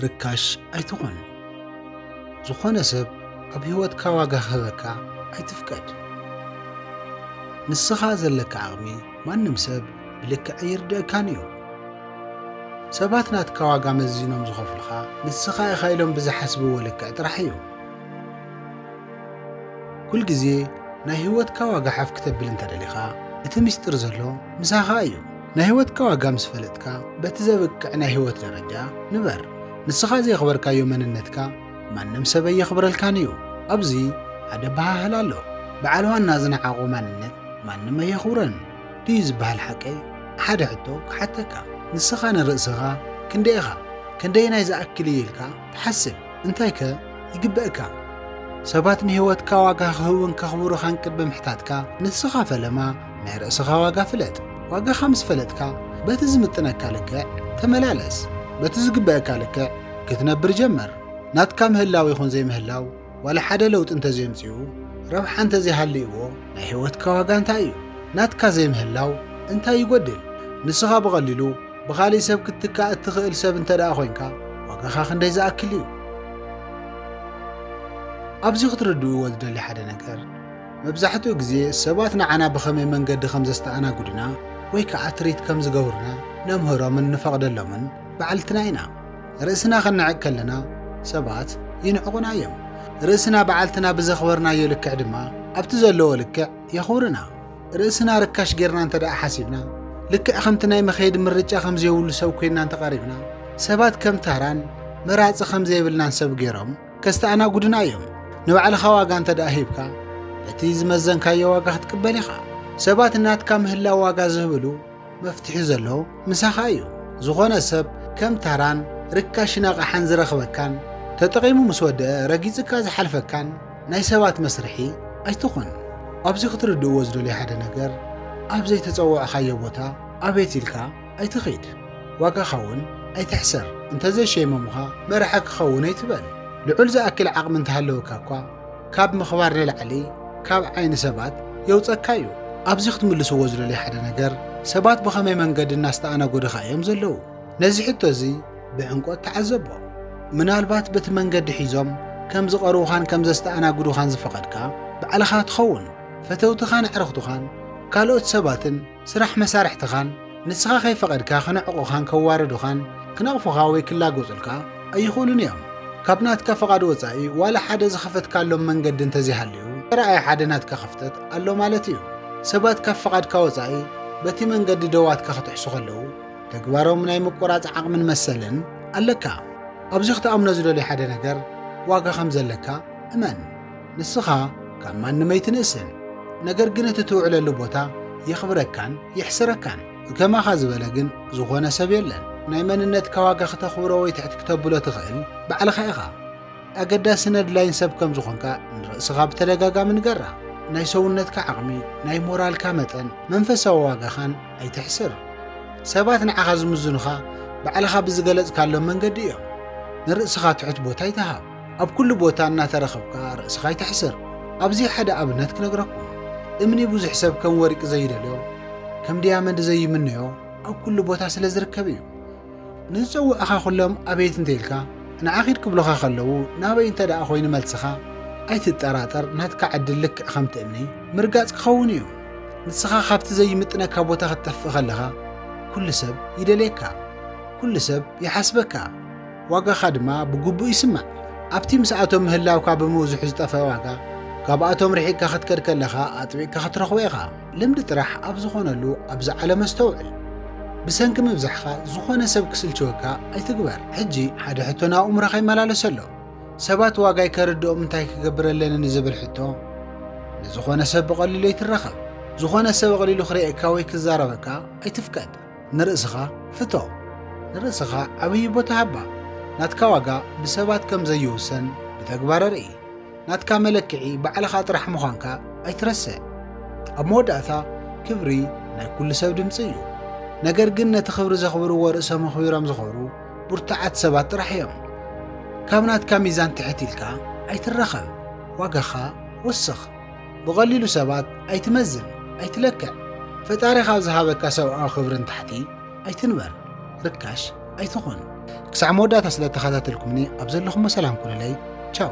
ርካሽ ኣይትኹን። ዝኾነ ሰብ ኣብ ህይወትካ ዋጋ ክህበካ ኣይትፍቀድ። ንስኻ ዘለካ ዓቕሚ ማንም ሰብ ብልክዕ ኣይርድእካን እዩ። ሰባት ናትካ ዋጋ መዚኖም ዝኸፍሉኻ ንስኻ ኢኻ ኢሎም ብዝሓስብዎ ልክዕ ጥራሕ እዩ። ኩል ግዜ ናይ ህይወትካ ዋጋ ሓፍ ክተብል እንተ ደሊኻ እቲ ምስጢር ዘሎ ምሳኻ እዩ። ናይ ህይወትካ ዋጋ ምስ ፈለጥካ በቲ ዘብቅዕ ናይ ህይወት ደረጃ ንበር። ንስኻ ዘየኽበርካዮ መንነትካ ማንም ሰብ ኣየኽብረልካን እዩ። ኣብዚ ሓደ ኣበሃህላ ኣሎ፣ በዓል ዋና ዝነዓቖ ማንነት ማንም ኣየኽብሮን ድዩ ዝበሃል ሓቂ? ሓደ ሕቶ ክሓተካ፣ ንስኻ ንርእስኻ ክንደይ ኢኻ? ክንደየናይ ዝኣክል እዩ ኢልካ ሓስብ፣ እንታይከ ይግበእካ? ሰባት ንህይወትካ ዋጋ ክህቡን ከኽብሩኻን ቅድሚ ምሕታትካ፣ ንስኻ ፈለማ ናይ ርእስኻ ዋጋ ፍለጥ። ዋጋኻ ምስ ፈለጥካ፣ በቲ ዝምጥነካ ልክዕ ተመላለስ። በቲ ዝግበእካ ልክዕ ክትነብር ጀምር። ናትካ ምህላው ይኹን ዘይምህላው፣ ዋላ ሓደ ለውጢ እንተዘየምጺኡ ረብሓ እንተዘይሃልይዎ ናይ ህይወትካ ዋጋ እንታይ እዩ? ናትካ ዘይምህላው እንታይ ይጎድል? ንስኻ ብቐሊሉ ብኻሊእ ሰብ ክትትካእ እትኽእል ሰብ እንተደኣ ኮይንካ ዋጋኻ ክንደይ ዝኣክል እዩ? ኣብዚ ክትርድእዎ ዝደሊ ሓደ ነገር መብዛሕትኡ ግዜ ሰባት ንዓና ብኸመይ መንገዲ ከም ዘስተኣናግዱና ወይ ከዓ ትሪት ከም ዝገብሩና ነምህሮምን ንፈቕደሎምን ባዕልትና ኢና። ርእስና ኸነዕቅ ከለና ሰባት ይንዕቑና እዮም። ርእስና በዓልትና ብዘኽበርናዮ ልክዕ ድማ ኣብቲ ዘለዎ ልክዕ የኽብሩና። ርእስና ርካሽ ጌርና እንተ ደኣ ሓሲብና፣ ልክዕ ከምቲ ናይ መኸየዲ ምርጫ ከም ዘይብሉ ሰብ ኮይንና እንተ ቀሪብና፣ ሰባት ከም ታራን መራጺ ከም ዘይብልናን ሰብ ገይሮም ከስተኣናጉዱና እዮም። ንባዕልኻ ዋጋ እንተ ደኣ ሂብካ፣ በቲ ዝመዘንካዮ ዋጋ ክትቅበል ኢኻ። ሰባት ናትካ ምህላው ዋጋ ዝህብሉ፣ መፍትሒ ዘሎ ምሳኻ እዩ። ዝኾነ ሰብ ከም ታራን ርካሽን ኣቕሓን ዝረኽበካን ተጠቒሙ ምስ ወደኣ ረጊጽካ ዝሓልፈካን ናይ ሰባት መስርሒ ኣይትኹን። ኣብዚ ክትርድእዎ ዝደልዮ ሓደ ነገር ኣብ ዘይተጸዋዕኻዮ ቦታ ኣቤት ኢልካ ኣይትኺድ። ዋጋኻ እውን ኣይትሕሰር። እንተዘይሸይሞምኻ መራሒ ክኸውን ኣይትበል። ልዑል ዝኣክል ዓቕሚ እንተሃለወካ እኳ ካብ ምኽባር ንላዕሊ ካብ ዓይኒ ሰባት የውፀካ እዩ። ኣብዚ ክትምልስዎ ዝደልዮ ሓደ ነገር ሰባት ብኸመይ መንገዲ እናስተኣናገዱኻ እዮም ዘለዉ? ነዚ ሕቶ እዚ ብዕምቆት ተዓዘቦ። ምናልባት በቲ መንገዲ ሒዞም ከም ዝቐርቡኻን ከም ዘስተኣናግዱኻን ዝፈቐድካ ባዕልኻ ትኸውን። ፈተውትኻን ኣዕርኽቱኻን ካልኦት ሰባትን ስራሕ መሳርሕትኻን ንስኻ ከይፈቐድካ ክነዕቑኻን ከዋርዱኻን ክነቕፉኻ ወይ ክላጎጹልካ ኣይኽእሉን እዮም። ካብ ናትካ ፍቓድ ወጻኢ ዋላ ሓደ ዝኸፈትካሎም መንገዲ እንተዘይሃልዩ ተራኣየ ሓደ ናትካ ክፍተት ኣሎ ማለት እዩ። ሰባት ካብ ፍቓድካ ወጻኢ በቲ መንገዲ ደዋትካ ክጥሕሱ ከለዉ ተግባሮም ናይ ምቁራጽ ዓቕምን መሰልን ኣለካ። ኣብዚ ክትኣምኖ ዝደልዮ ሓደ ነገር ዋጋ ከም ዘለካ እመን። ንስኻ ካብ ማንም ኣይትንእስን፣ ነገር ግን እቲ ትውዕለሉ ቦታ የኽብረካን የሕስረካን። ከማኻ ዝበለ ግን ዝኾነ ሰብ የለን። ናይ መንነትካ ዋጋ ክተኽብሮ ወይ ትሕት ክተብሎ ትኽእል ባዕልኻ ኢኻ። ኣገዳሲ ነድላይን ሰብ ከም ዝኾንካ ንርእስኻ ብተደጋጋሚ ንገራ። ናይ ሰውነትካ ዓቕሚ፣ ናይ ሞራልካ መጠን፣ መንፈሳዊ ዋጋኻን ኣይተሕስር። ሰባት ንዓኻ ዝምዝኑኻ ባዕልኻ ብዝገለጽካሎም መንገዲ እዮም። ንርእስኻ ትሑት ቦታ ኣይትሃብ። ኣብ ኩሉ ቦታ እናተረኸብካ ርእስኻ ኣይተሕስር። ኣብዚ ሓደ ኣብነት ክነግረኩም። እምኒ ብዙሕ ሰብ ከም ወርቂ ዘይደልዮ፣ ከም ድያመንድ ዘይምነዮ ኣብ ኩሉ ቦታ ስለ ዝርከብ እዩ። ንዝጸውዕኻ ኩሎም ኣቤት እንተኢልካ፣ ንዓ ኪድ ክብሉኻ ከለዉ ናበይ እንተ ደኣ ኮይኑ መልስኻ፣ ኣይትጠራጠር ናትካ ዕድል ልክዕ ከምቲ እምኒ ምርጋጽ ክኸውን እዩ። ንስኻ ካብቲ ዘይምጥነካ ቦታ ክትጠፍእ ከለኻ ኩሉ ሰብ ይደልየካ፣ ኩሉ ሰብ ይሓስበካ። ዋጋኻ ድማ ብግቡእ ይስማዕ። ኣብቲ ምስኣቶም ምህላውካ ብምብዝሑ ዝጠፍእ ዋጋ፣ ካብኣቶም ርሒቕካ ክትከድ ከለኻ ኣጥቢቕካ ክትረኽቦ ኢኻ። ልምዲ ጥራሕ ኣብ ዝኾነሉ ኣብዚ ዓለም ኣስተውዕል። ብሰንኪ ምብዛሕካ ዝኾነ ሰብ ክስልችወካ ኣይትግበር። ሕጂ ሓደ ሕቶ ናብ ኣእምሮኻ ይመላለስ ኣሎ። ሰባት ዋጋይ ከርድኦም እንታይ ክገብር ኣለኒ ንዝብል ሕቶ፣ ንዝኾነ ሰብ ብቐሊሉ ኣይትራኸብ። ዝኾነ ሰብ ኣቕሊሉ ክርእየካ ወይ ክዛረበካ ኣይትፍቀድ። ንርእስኻ ፍቶ። ንርእስኻ ዓብዪ ቦታ ሃባ። ናትካ ዋጋ ብሰባት ከም ዘይውሰን ብተግባር ኣርኢ። ናትካ መለክዒ ባዕልኻ ጥራሕ ምዃንካ ኣይትረስዕ። ኣብ መወዳእታ፣ ክብሪ ናይ ኩሉ ሰብ ድምጺ እዩ። ነገር ግን ነቲ ክብሪ ዘኽብርዎ ርእሶም ኣኽቢሮም ዝኾሩ ብርቱዓት ሰባት ጥራሕ እዮም። ካብ ናትካ ሚዛን ትሕት ኢልካ ኣይትረኸብ። ዋጋኻ ወስኽ። ብቐሊሉ ሰባት ኣይትመዝን፣ ኣይትለክዕ። ፈጣሪ ካብ ዝሃበካ ሰብኣዊ ክብርን ታሕቲ ኣይትንበር፣ ርካሽ ኣይትኹን። ክሳዕ መወዳእታ ስለ ተኸታተልኩምኒ ኣብ ዘለኹሞ ሰላም ኩኑለይ ቻው።